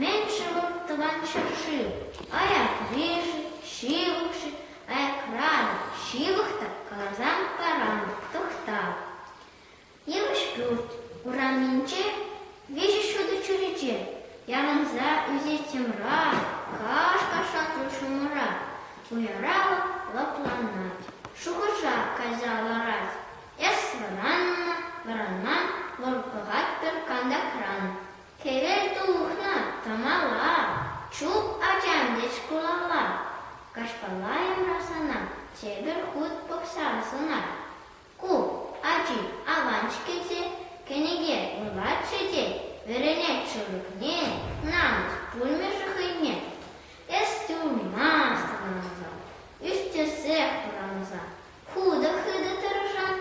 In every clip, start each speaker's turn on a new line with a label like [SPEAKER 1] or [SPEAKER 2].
[SPEAKER 1] Меньшего тӑван ҫӗршыв аякри-ши, ҫывӑх-ши, аякра ҫывӑх та каласан таран тӑхта. Йывӑҫ-пӳрт урамӗнче виҫӗ ҫутӑ чӳрече ярӑнса ӳсет. Тӗмра, каш-кашаклӑ ҫумӑра уяра лӑпланать, шухӑша кайса ларать. Эс вӑранман вӑл пӑхать пӗр кантакран. Хӗвел тухнӑ тамала, чуп ачам тет шкулалла. Каҫпалайӑмра сана тепӗр хут пӑхса сӑнать. Ку ачи аван-ҫке те, кӗнеке вулатчӗ те вӗренет шӑвӑкне, намӑс пулмӗ-ши хӑйне? Эс тюрьмӑна аталанса, ӳстерсех пурӑнса, хытӑ-хытӑ тӑрӑшан,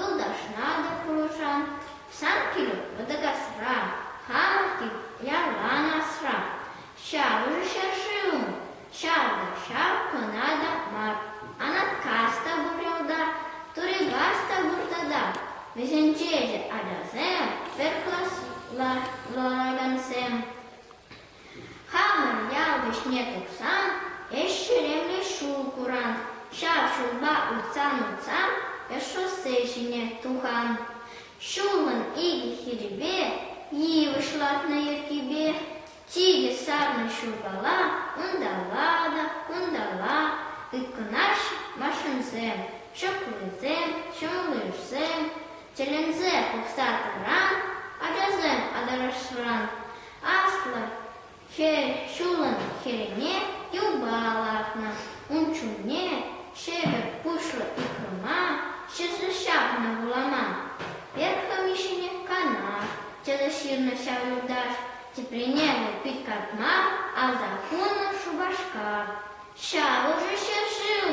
[SPEAKER 1] юлташна та пулӑшан, сан килӳ Мӑтӑкасра, хамӑр кил ялан асра. Ҫавӑн ҫӗршыв Ҫапӑҫав кӑна та мар, Анаткас та пур ялта, Турикас та пур тата. Вӗсенче ӗҫӗ ачасем, пӗр класла ларакансем. Хамӑр ял вӗҫне тухсан ӗҫ ҫеремлӗ ҫул куран. Ҫав ҫулпа утсан-утсан ӗҫ шоссе ҫине тухан. Ҫулӑн икӗ хирӗпе, йывӑҫ лартнӑ йӗркипе, Тикӗс сарнӑ ҫуркала унталла та кунталла тыткӑнаҫҫӗ машинсем, ҫӑклисем, ҫӑмӑллишсем тӗлӗнсе пӑхса тӑран ачасем аталашран аслӑ хӗр ҫулӑн хӗрне юпа лартнӑ, ун чунне шепӗт пуҫлӑ икрӑма ҫӗсӗ ҫапнӑ вуламан. Пӗр хӑми ҫине кана тӗлӗ ҫырнӑ ҫав юлташ. Тӗпленевӗ пит катма, Аса хунӑ Шупашкар. Ҫав ӑшӑ ҫӗршыв,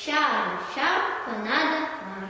[SPEAKER 1] Ҫав, ҫав кӑна та мар.